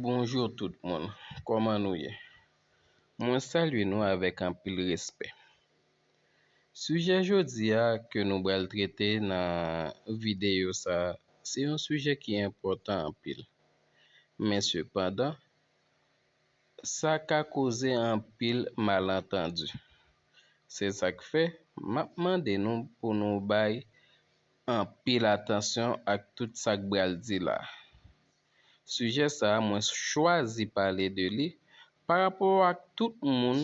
Bonjour tout moun kòman nou ye mwen salye nou avèk anpil respè sijè jodi a ke nou bal trete nan videyo sa se yon sijè ki enpòtan anpil men sepandan sa ka koze anpil malantandi se sak fè map mande nou pou nou bay anpil atansyon ak tout sa k bral di la. Sijè sa a mwen chwazi pale de li parapò ak tout moun,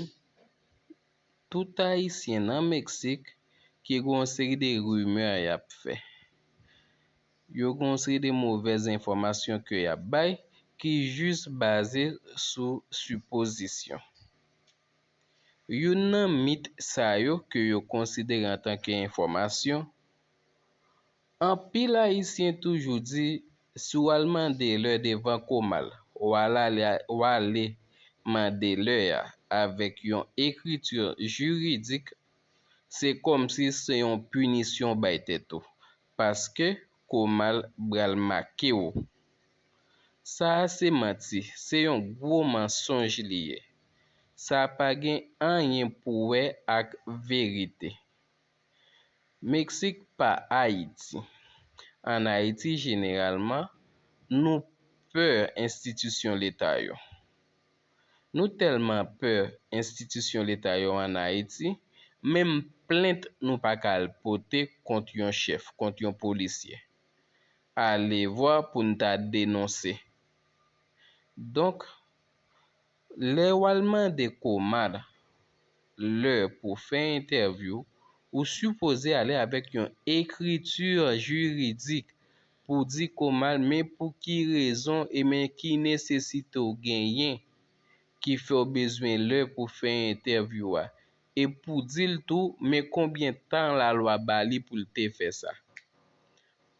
tout ayisyen nan Meksik ki gen yon seri de rimè y ap fè. Yo gen yon seri de movèz enfòmasyon ke y ap bay ki jis baze sou sipozisyon. Youn nan mit sa yo ke yo konsidere antanke enfòmasyon, Anpil Ayisyen toujou di si w al mande lè devan Komal, w ale mande lè a avèk yon ekriti jiridik, se kòmsi se yon pinisyon w bay tèt ou, paske Komal bral make w. Sa a se manti, se yon gwo mansonj li ye. Sa a pa gen anyen pou wè ak verite. Meksik pa Ayiti. An Ayiti jeneralman, nou pè enstitisyon leta yo. Nou tèlman pè enstitisyon leta yo an Ayiti, menm plent nou pa ka al pote kont yon chèf, kont yon polisye. Alevwa pou n ta denonse. Donk, lè w al mande Komad lè pou fè entèvyou, ou sipoze ale avèk yon ekriti jiridik pou di Komad men pou ki rezon e men ki nesesite w genyen ki fè w bezwen lè pou fè entèvyou a. e pou di l tou men konbyen tan lalwa ba li pou l te fè sa.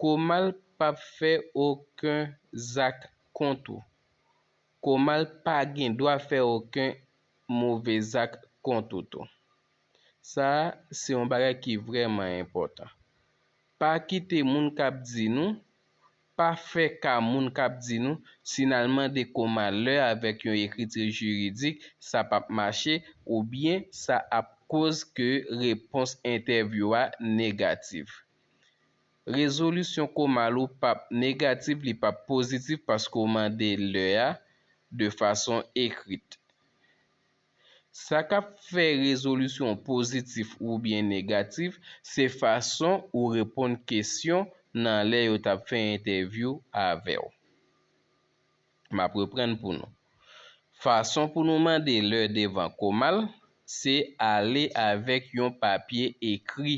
Komal pap fè oken zak kont ou. Komal pa gen dwa fè oken move zak kont ou tou. Sa a se yon bagay ki vrèman enpòtan. Pa kite moun k ap di nou Pa fè ka moun k ap di nou, si n al mande kou malè avèk yon ekriti jiridik, sa p ap mache, oubyen sa ap koz ke repons entèvyou a negatif. Rezolisyon kou mal ou p ap negatif, li p ap pozitif paske w mande lè a de fason ekrit. Sa k ap fè rezolisyon pozitif oubyen negatif se fason ou reponn kesyon nan lè yo t ap fè entèvyou avè w. M ap reprann pou nou. Fason pou nou mande lè devan Komal se ale avèk yon papye ekri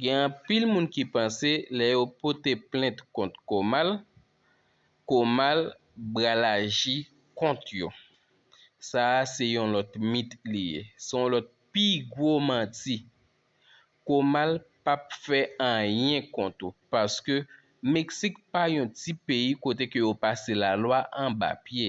Gen anpil moun ki panse lè yo pote plent kont Komal, Komal bral aji kont yo. Sa a se yon lòt mit li ye. Se yon lòt pi gwo manti. Komal p ap fè anyen kont ou paske Meksik pa yon ti peyi kote ke yo pase lalwa anba pye.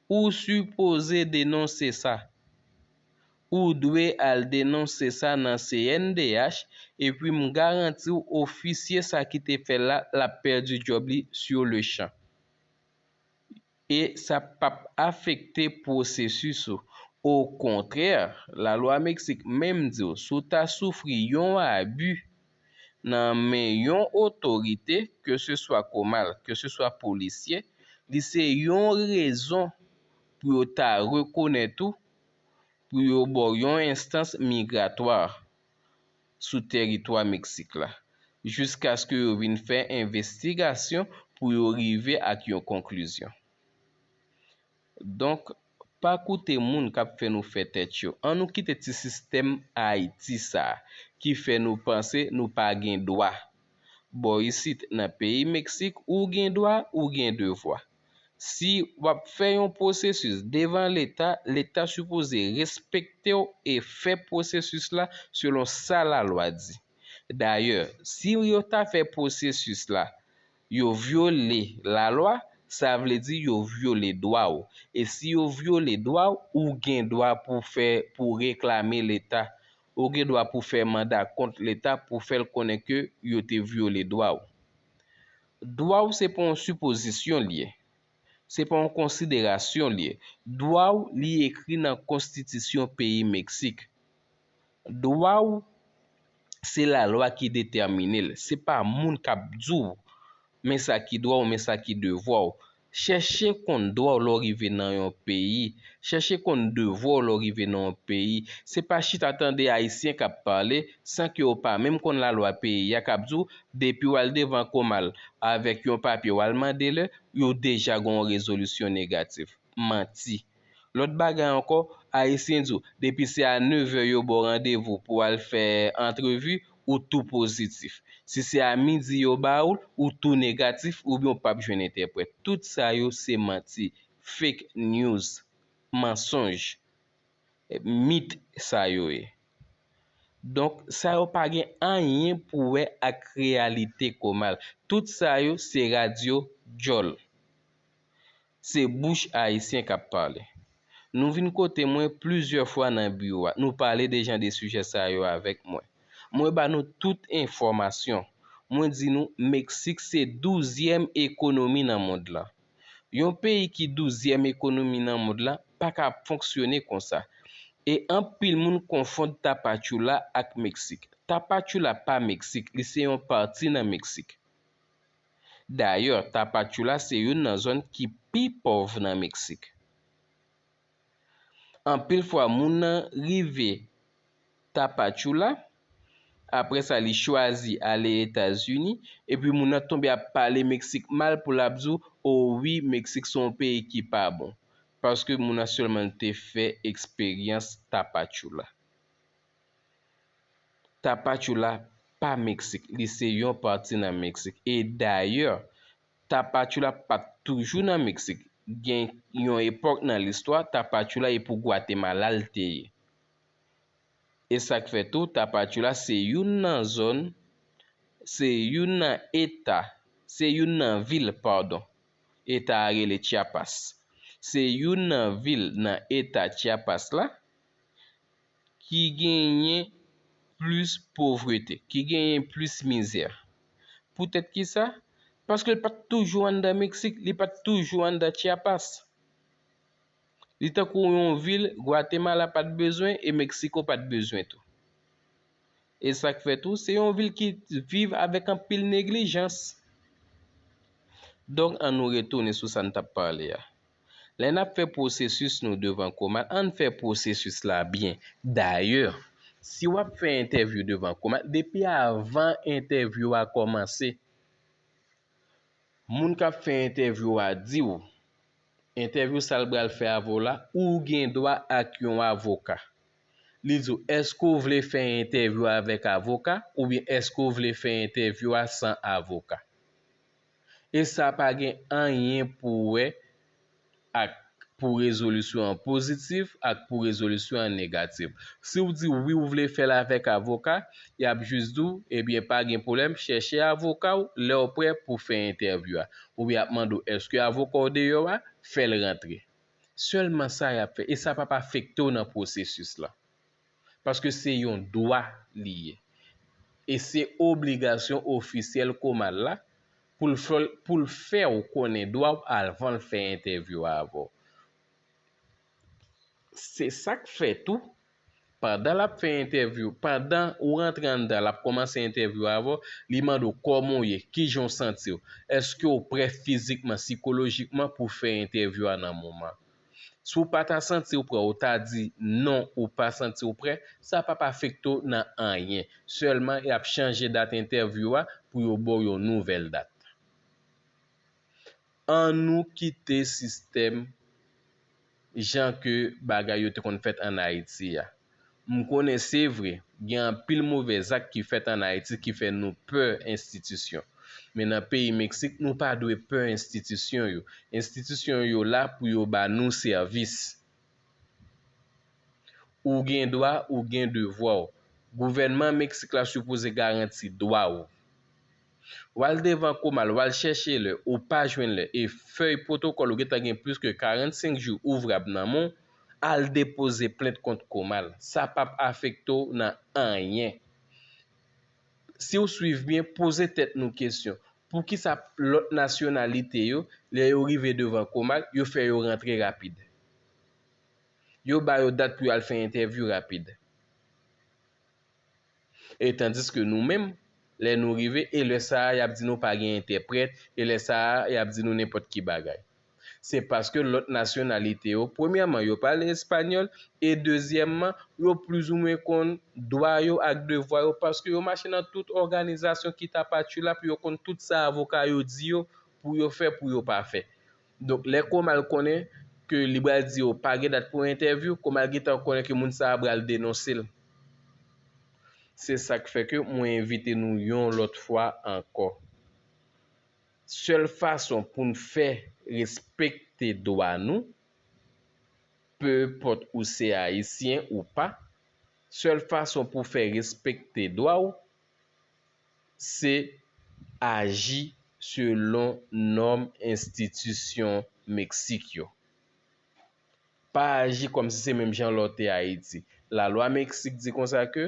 Ou sipoze denonse sa. Ou dwe al denonse sa nan CNDH epi m garanti w ofisye sa ki te fè l la l ap pèdi djòb li sur le champ. E sa p ap afekte pwosesis ou. Okontrè, lalwa Meksik menm di w si w ta soufri yon abi, nan men yon otorite ke se swa komal ke se swa polisye li se yon rezon pou yo ta rekonèt ou pou yo ba w yon enstans migratwa sou teritwa Meksik la jiskaske yo vin fè envestigasyon pou yo rive ak yon konklizyon. Donk pa koute moun k ap fè nou fè tèt yo. An nou kite ti sistèm Ayiti sa a ki fè nou panse nou pa gen dwa. Bò isit nan peyi Meksik ou gen dwa ou gen devwa. Si w ap fè yon pwosesis devan leta, leta sipoze respekte w e fè pwosesis la selon sa lalwa di. Dayè si yo ta fè pwosesis la Yo vyole lalwa, sa vle di yo vyole dwa w. E si yo vyole dwa w, ou gen dwa pou fè, pou w reklame Leta. Ou gen dwa pou w fè manda kont Leta pou w fè l konnen ke yo te vyole dwa w. Dwa w se pa yon sipozisyon li ye. Se pa yon konsiderasyon li ye. Dwa w li ekri nan konstitisyon peyi Meksik. Dwa ou, se lalwa ki detèmine l. Se pa moun k ap di w men sa ki dwa w, men sa ki devwa w. Chèche konn dwa w lè w rive nan yon peyi. Chèche konn devwa w lè w rive nan yon peyi. Se pa chita tande Ayisyen k ap pale san ke w pa menm konn lalwa peyi a k ap di w depi w al devan Komal avèk yon papye w al mande lè, yo deja gen yon rezolisyon negatif. Manti! Lòt bagay ankò, Ayisyen di w, depi se a nevè yo ba w randevou pou w al fè antrevi, ou tou pozitif. Si se a midi yo ba w l, ou tou negatif oubyen ou pap jwenn entèprèt. Tout sa yo se manti, fake news, mansonj, mit sa yo ye. Donk, sa yo pa gen anyen pou wè ak reyalite Comal. Tout sa yo se radyo djòl. Se bouch Ayisyen kap pale. Nou vin kote mwen plizyè fwa nan biwo a, nou pale de jan de sijè sa yo avèk mwen. Mwen ba nou tout enfòmasyon. Mwen di nou Meksik se douzyèm ekonomi nan mond lan. Yon peyi ki douzyèm ekonomi nan mond lan pa ka ap fonksyone konsa. E anpil moun konfond Tapachula ak Meksik. Tapachula pa Meksik, li se yon pati nan Meksik. Dayè, Tapachula se youn nan zòn ki pi pòv nan Meksik. Anpil fwa moun nan rive Tapachula, apre sa li chwazi ale Etazini, epi moun nan tonbe ap pale Meksik mal pou l ap di w, o wi Meksik se yon peyi ki pa bon, paske moun nan sèlman te fè eksperyans Tapachula. Tapachula pa Meksik, li se yon pati nan Meksik. E dayè, Tapachula pa t toujou nan Meksik. Gen yon epòk nan listwa, Tapachula e pou Gwatemala l te ye. E sa k fè tou, Tapachula se youn nan zòn, se youn nan eta, se youn nan vil, padon, eta a rele Chiapas. Se youn nan vil nan eta Chiapas la. ki genyen plis povrete, ki genyen plis mizè. Poutèt ki sa? Paske li pa t toujou anndan Meksik, li pa t toujou anndan Chiapas. Li tankou yon vil Gwatemala pa t bezwen e Meksiko pa t bezwen tou. E sa k fè tou, se yon vil ki viv avèk anpil neglijans. Donk, annou retounen sou sa n t ap pale a. Lè n ap fè pwosesis nou devan COMAT, ann fè pwosesis la byen. Dayè, si w ap fè entèvyou devan COMAT, depi avan entèvyou a kòmanse, moun k ap fè entèvyou a di w, entèvyou sa l pral fè avè w la, ou gen dwa ak yon avoka. Li di w, èske w vle fè entèvyou a avèk avoka oubyen èske w vle fè entèvyou a san avoka? e sa pa gen anyen pou wè ak pou rezolisyon an pozitif ak pou rezolisyon an negatif. Si w di wi ou vle fè l avèk avoka, y ap jis di w, ebyen pa gen pwoblèm, chèche avoka w lè w prè pou fè entèvyou a. Oubyen y ap mande w èske avoka w deyò a, fè l rantre. Sèlman sa y ap fè e sa p ap afekte w nan pwosesis lan. paske se yon dwa li ye e se obligasyon ofisyèl Komal la pou l fè w konnen dwa w avan l fè entèvyou a avè w. Se sa k fè tou, pandan l ap fè entèvyou, pandan ou rantre anndan l ap kòmanse entèvyou a avè w, li mande w kòman w ye, ki jan w santi w, èske w prè fizikman, sikolojikman pou fè entèvyou a nan moman an. Si w pa ta santi w prè ou ta di non ou pa santi w prè, sa pap afekte w nan anyen. Sèlman y ap chanje dat entèvyou a pou yo ba w yon nouvèl dat. Annou kite sistèm jan ke bagay yo te konn fèt an Ayiti a. M konnen se vre, gen anpil move zak ki fèt an Ayiti ki fè nou pè enstitisyon. Men nan peyi Meksik nou pa dwe pè enstitisyon yo. Enstitisyon yo la pou yo ba nou sèvis. Ou gen dwa, ou gen devwa w. Gouvènman Meksik la sipoze garanti dwa ou. Wal devan komal wal chèche lè ou pa jwenn lè e fèy pwotokòl ou gentan gen plis ke 45 jou ouvrab nan men w al depoze plent kont komal sa pap afekte w nan anyen si w swiv byen poze tèt nou kesyon poukisa lòt nasyonalite yo lè yo rive devan komal yo fè yo rantre rapid yo ba yo dat pou yo al fè entèvyou rapid. E tandiske nou menm, lè nou rive, e lè sa a y ap di nou pa gen entèprèt, e lè sa a y ap di nou nenpòt ki bagay. Se paske lòt nasyonalite yo, premyèman yo pale espanyòl, e dezyèmman, yo plizoumwen konn dwa yo ak devwa yo paske yo mache nan tout òganizasyon ki ta pa tchoula pou yo konn tout sa avoka yo di yo pou yo fè pou yo pa fè. Donk lè Komal konnen ke li bral di yo pa gen dat pou entèvyou, Komal gentan konnen ke moun sa a bral denonse l. Se sa k fè ke mwen envite nou yon lòt fwa ankò. Sèl fason pou n fè respekte dwa nou, peuport ou se Ayisyen ou pa, sèl fason pou fè respekte dwa w, se aji selon nòm enstitisyon Meksik yo. Pa aji kòm si se menm jan lè w te Ayiti. Lalwa Meksik di konsa ke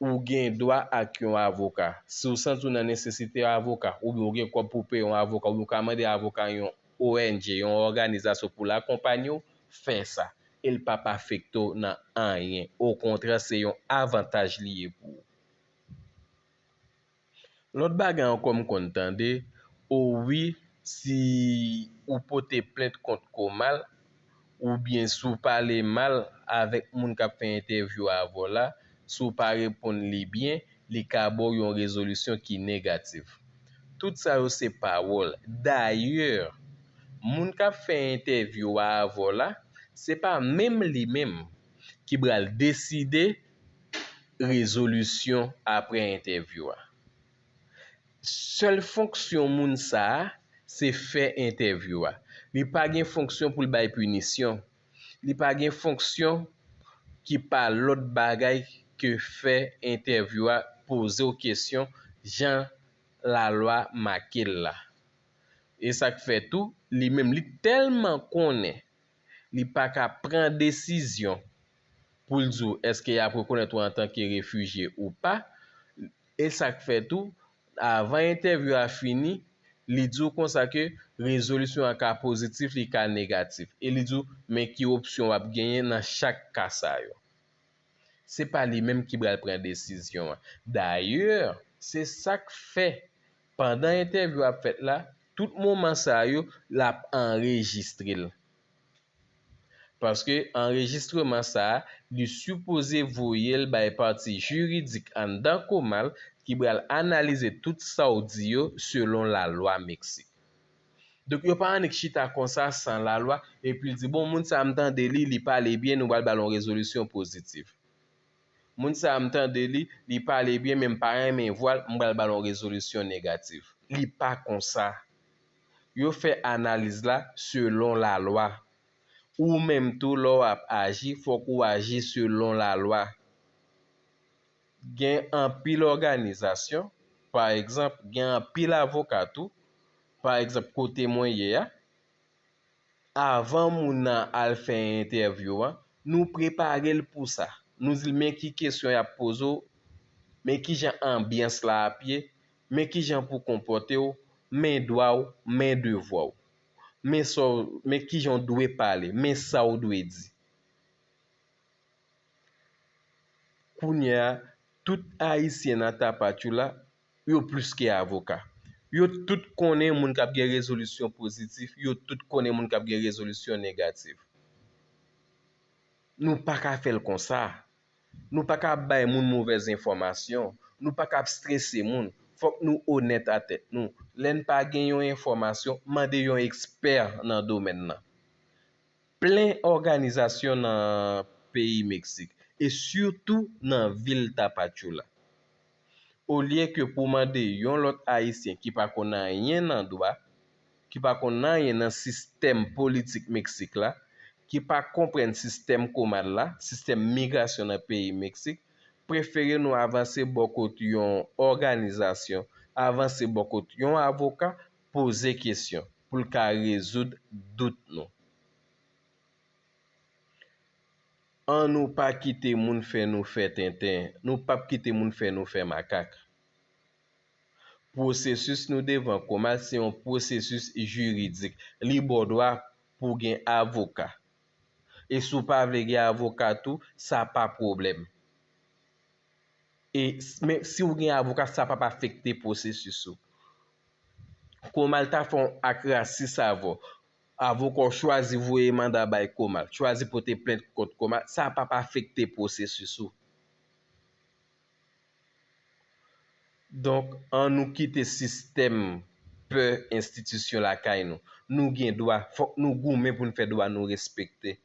ou gen dwa ak yon avoka. Si w santi w nan nesesite yon avoka, oubyen ou gen kòb pou w peye yon avoka, oubyen ou ka mande avoka yon ONG, yon òganizasyon pou l akonpanye w, fè sa. E l p ap afekte w nan anyen. Okontrè, se yon avantaj li ye pou ou. Lòt bagay ankò m konn tande, o wi si ou pote plent kont Komal oubyen si w pale mal avèk moun k ap fè entèvyou avè w la, si w pa reponn li byen, li ka ba w yon rezolisyon ki negatif. Tout sa yo se pawòl. Dayè, moun k ap fè entèvyou a avè w la, se pa menm li menm ki pral deside rezolisyon apre entèvyou a. Sèl fonksyon moun sa a, se fè entèvyou a. Li pa gen fonksyon pou l bay pinisyon. Li pa gen fonksyon ki pa lòt bagay ke fè entèvyou a, poze w kesyon jan lalwa make l la. E sa k fè tou, li menm li tèlman konnen li pa ka pran desizyon pou l di w èske y ap rekonèt ou antanke refijye ou pa, e sa k fè tou, avan entèvyou a fini, li di w konsa ke rezolisyon an ka pozitif, li ka negatif, e li di w men ki opsyon w ap genyen nan chak ka sa yo. Se pa li menm ki pral pran desizyon an. Dayè, se sa k fè, pandan entèvyou a ap fèt la, tout moman sa yo, l ap anrejistre l. Paske anrejistreman sa a, li sipoze voye l bay pati jiridik anndan Comal ki pral analize tout sa w di yo selon lalwa Meksik. Donk yo pa annik chita konsa san lalwa epi di bon moun sa a m tande li, li pale byen nou pral ba l yon rezolisyon pozitif. Moun sa a m tande li, li pale byen men m pa renmen vwa l, m pral ba l yon rezolisyon negatif. Li pa konsa yo fè analiz la selon lalwa. Ou menm tou lè w ap aji fòk ou aji selon lalwa. Gen anpil òganizasyon, pa egzanp gen anpil avoka tou, pa egzanp kote mwen ye a, avan moun nan al fè entèvyou an, nou prepare l pou sa. Nou di l men ki kesyon y ap poze w, men kijan anbyans la ap ye, Men kijan pou w konpòte w, men dwa w, men devwa w. Men sa w, men kijan w dwe pale, men sa w dwe di. Kounye a, tout Ayisyen nan Tapachula, yo plis ke avoka. Yo tout konnen moun k ap gen rezolisyon pozitif, yo tout konnen moun k ap gen rezolisyon negatif. Nou pa ka fè l konsa. Nou pa ka ap bay moun movèz enfòmasyon, nou pa ka ap strese moun, fòk nou onèt a tèt nou, lè n pa gen yon enfòmasyon mande yon ekspè nan domèn nan. Plen òganizasyon nan peyi Meksik e sitou nan vil Tapachula. Olye ke pou mande yon lòt Ayisyen ki pa konn anyen nan dwa, ki pa konn anyen nan sistèm politik Meksik la, ki pa konprann sistèm komad la, sistèm migrasyon nan peyi Meksik, prefere nou avanse bò kot yon òganizasyon, avanse bò kot yon avoka, poze kesyon, pou l ka rezoud dout nou. An nou pa kite moun fè nou fè tenten, nou pap kite moun fè nou fè makak. Pwosesis nou devan Comal se yon pwosesis jiridik. Li ba w dwa pou gen avoka. E si w pa vle gen avoka tou, sa pa pwoblèm. E men si w gen avoka, sa pap afekte pwosesis ou. Comal ta fè yon ak rasis avè w. Avoka w chwazi voye manda bay Comal, chwazi pote plent kont Comal, sa p ap afekte pwosesis ou. Donk, an nou kite sistèm pè enstitisyon lakay nou. Nou gen dwa, fòk nou goumen pou n fè dwa nou respekte.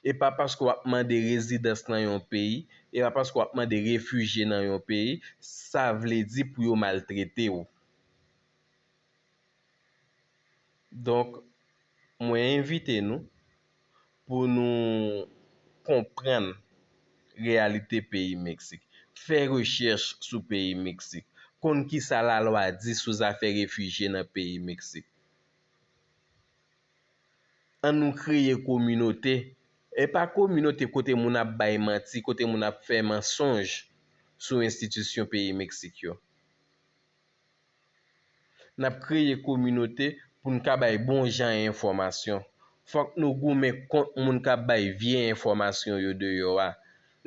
E pa paske w ap mande rezidans nan yon peyi, e pa paske w ap mande refijye nan yon peyi, sa vle di pou yo maltrete w. Donk, mwen envite nou pou nou konprann reyalite peyi Meksik, fè rechèch sou peyi Meksik, konn ki sa lalwa di sou zafè refijye nan peyi Meksik. An nou kreye kominote, e pa kominote kote moun ap bay manti, kote moun ap fè mansonj sou enstitisyon peyi Meksik yo. N ap kreye kominote pou n ka bay bon jan enfòmasyon. Fòk nou goumen kont moun k ap bay vye enfòmasyon yo deyò a.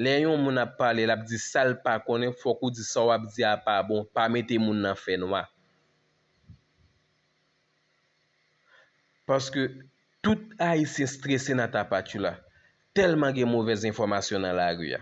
Lè yon moun ap pale l ap di sa l pa konnen fòk ou di sa w ap di a pa bon, pa mete moun nan fè nwa. Paske tout Ayisyen strese nan tapatchoula, tèlman gen movèz enfòmasyon nan lari a.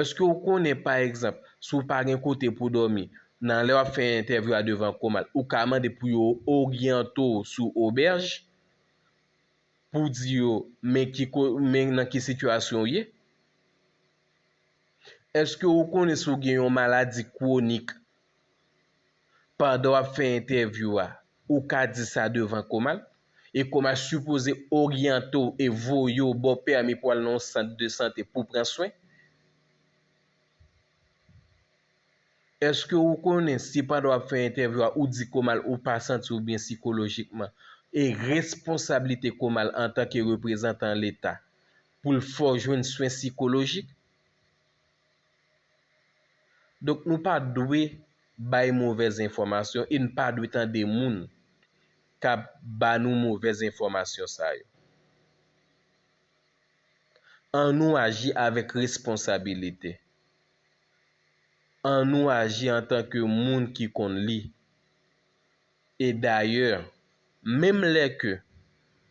Eske ou konnen pa egzanp si w pa gen kote pou dòmi nan lè w ap fè entèvyou a devan Comal ou ka mande pou yo oryante w sou obèj pou w di yo men ki ko men nan ki sitiyasyon w ye? Eske ou konnen si w gen yon maladi kwonik pandan wap fè entèvyou a ou ka di sa devan Koma e Koma sipoze oryante w e voye w ba w pèmi pou al nan yon sant de sante pou pran swen. Eske ou konnen si pandan wap fè entèvyou a ou di Koma ou pa santi w byen sikolojikman e responsablite Koma antanke reprezantan leta pou l fè w jwenn swen sikolojik? Donk nou pa dwe bay movèz enfòmasyon e n pa dwe tande moun k ap ba nou movèz enfòmasyon sa yo. An nou aji avèk responsabilite. An nou aji antanke moun ki konn li. E dayè, menm lè ke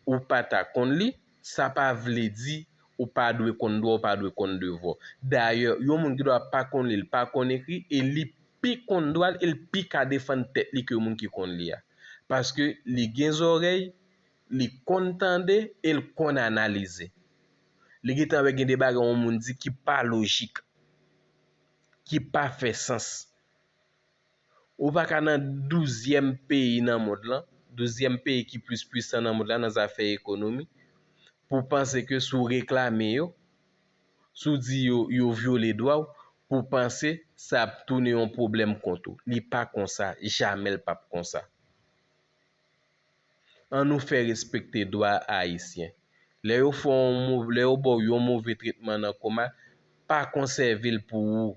ou pa ta konn li, sa pa vle di ou pa dwe konn dwa, ou pa dwe konn devwa w. Dayè, yon moun gen dwa pa konn li, li pa konn ekri, e li pi konn dwa l e li pi ka defann tèt li ke moun ki konn li a. Paske li gen zòrèy, li konn tande e li konn analize. Li gen tan wè gen de bagay yon moun di ki pa lojik, ki pa fè sans. Ou pa ka nan douzyèm peyi nan mond lan, douzyèm peyi ki plis pwisan nan mond lan nan zafè ekonomi, pou w panse ke si w reklame yo, si w di yo, yo vyole dwa w, pou w panse sa ap tounen yon pwoblèm kont ou. Li pa konsa, jamè l pap konsa. An nou fè respekte dwa Ayisyen. Lè yo fè w yon move, lè yo ba w yon move tretman nan Koma, pa konsève l pou ou.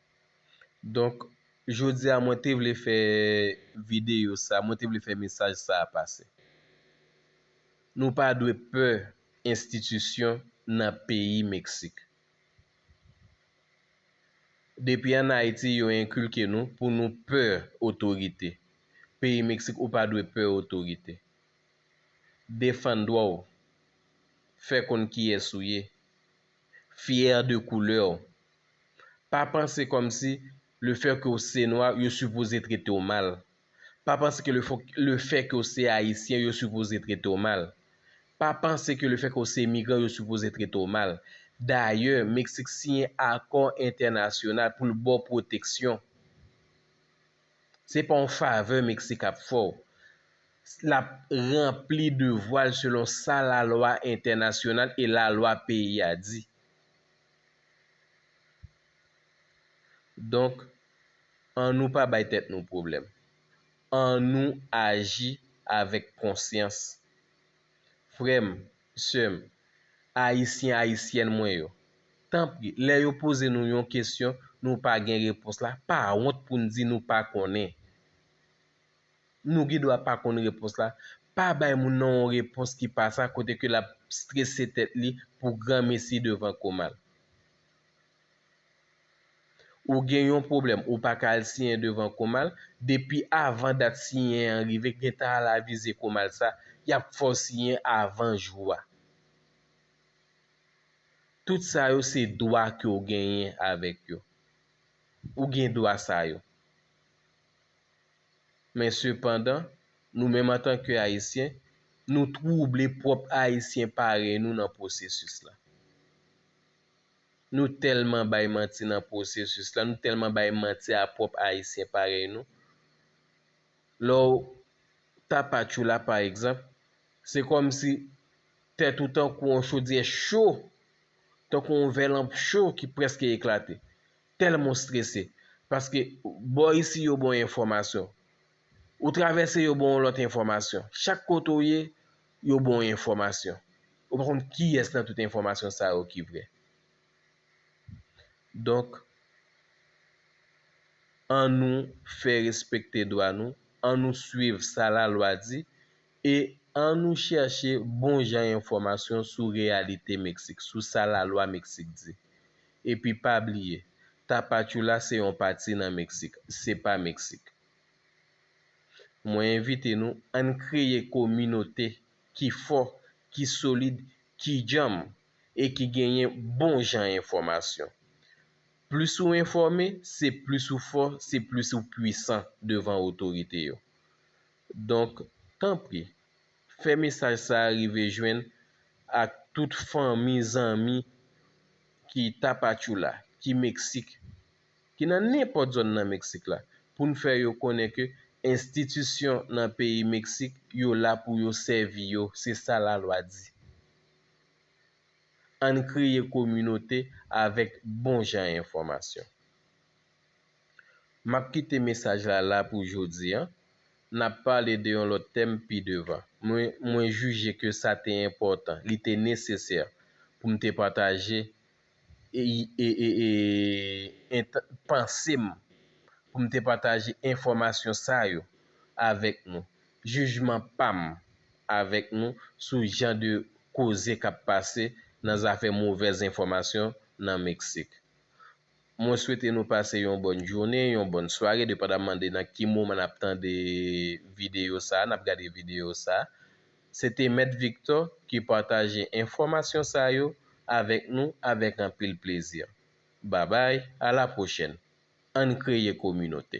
Donk jodi a mwen te vle fè videyo sa, mwen te vle fè mesaj sa a pase. Nou pa dwe pè enstitisyon nan peyi Meksik. Depi an Ayiti yo enkilke nou pou nou pè otorite. Peyi Meksik ou pa dwe pè otorite. Defann dwa w. Fè konn kiyès ou ye. Fière de couleur w. Pa panse kòm si le fait ke w se nwa yo sipoze trete w mal. Pa panse ke le fait ke w se ayisyen yo sipoze trete w mal. Pa panse ke le fait ke w se migran yo sipoze trete w mal. Dayè, Meksik siyen akò entènasyonal pou l ba w pwoteksyon. Se pa yon favè Meksik ap fè w. L ap ranpli devwa l selon sa lalwa entènasyonal e lalwa peyi a di. Donk, an nou pa bay tèt nou pwoblèm. An nou aji avèk konsyans. Frè m, Sè m, Ayisyen Ayisyèn mwen yo, tanpri lè yo poze nou yon kesyon nou pa gen repons la pa wont pou n di nou pa konnen. Nou gen dwa pa konn repons la, pa bay moun nan yon repons ki pa sa kote ke l ap strese tèt li pou granmesi devan komal. Ou gen yon pwoblèm ou pa ka al siyen devan Komal, depi avan dat siyen an rive gentan al avize Komal sa, y ap fè w siyen avan jou a. Tout sa yo se dwa ke w genyen avèk yo. Ou gen dwa sa yo. Men sepandan, nou menm antanke Ayisyen, nou twouble pwòp Ayisyen parèy nou nan pwosesis la. Nou tèlman bay manti nan pwosesis la, nou tèlman bay manti a pwòp Ayisyen parèy nou. Lè w Tapachula pa egzanp, se kòmsi tèt ou tankou yon chodyè cho, tankou yon vè lanp cho ki prèske eklate. Tèlman w strese, paske bò isi yo ba w enfòmasyon, ou travèse yo ba w yon lòt enfòmasyon. Chak kote w ye, Yo ba w enfòmasyon. Ou pa konn kiyès nan tout enfòmasyon sa yo ki vrè. Donk, an nou fè respekte dwa nou, an nou swiv sa lalwa di e an nou chèche bon jan enfòmasyon sou reyalite Meksik, sou sa lalwa Meksik di. Epi pa bliye, Tapachula se yon pati nan Meksik, se pa Meksik. Mwen envite nou ann kreye kominote ki fò, ki solid, ki djanm e ki genyen bon jan enfòmasyon. Plis ou enfòme, se plis ou fò, se plis ou pwisan devan otorite yo. Donk, tanpri, fè mesaj sa a rive jwenn ak tout fanmi, zanmi ki Tapachula, ki Meksik, ki nan nenpòt zòn nan Meksik la, pou n fè yo konnen ke enstitisyon nan peyi Meksik yo la pou yo sèvi yo, se sa lalwa di. An n kreye kominote avèk bon jan enfòmasyon. M ap kite mesaj la la pou jodi an, n ap pale de yon lòt tèm pi devan. Mwen mwen jije ke sa te enpòtan, li te nesesè pou m te pataje ent panse m pou m te pataje enfòmasyon sa yo avèk nou. Jijman pa m avèk nou sou jan de koze k ap pase nan zafè movèz enfòmasyon nan Meksik. Mwen swete nou pase yon bòn jounen, yon bòn sware depandaman de nan ki moman n ap tande videyo sa a, n ap gade videyo sa a. Se te Mèt Victor ki pataje enfòmasyon sa yo avèk nou avèk anpil plezi. Babay, a la pwochèn. Ann kreye kominote.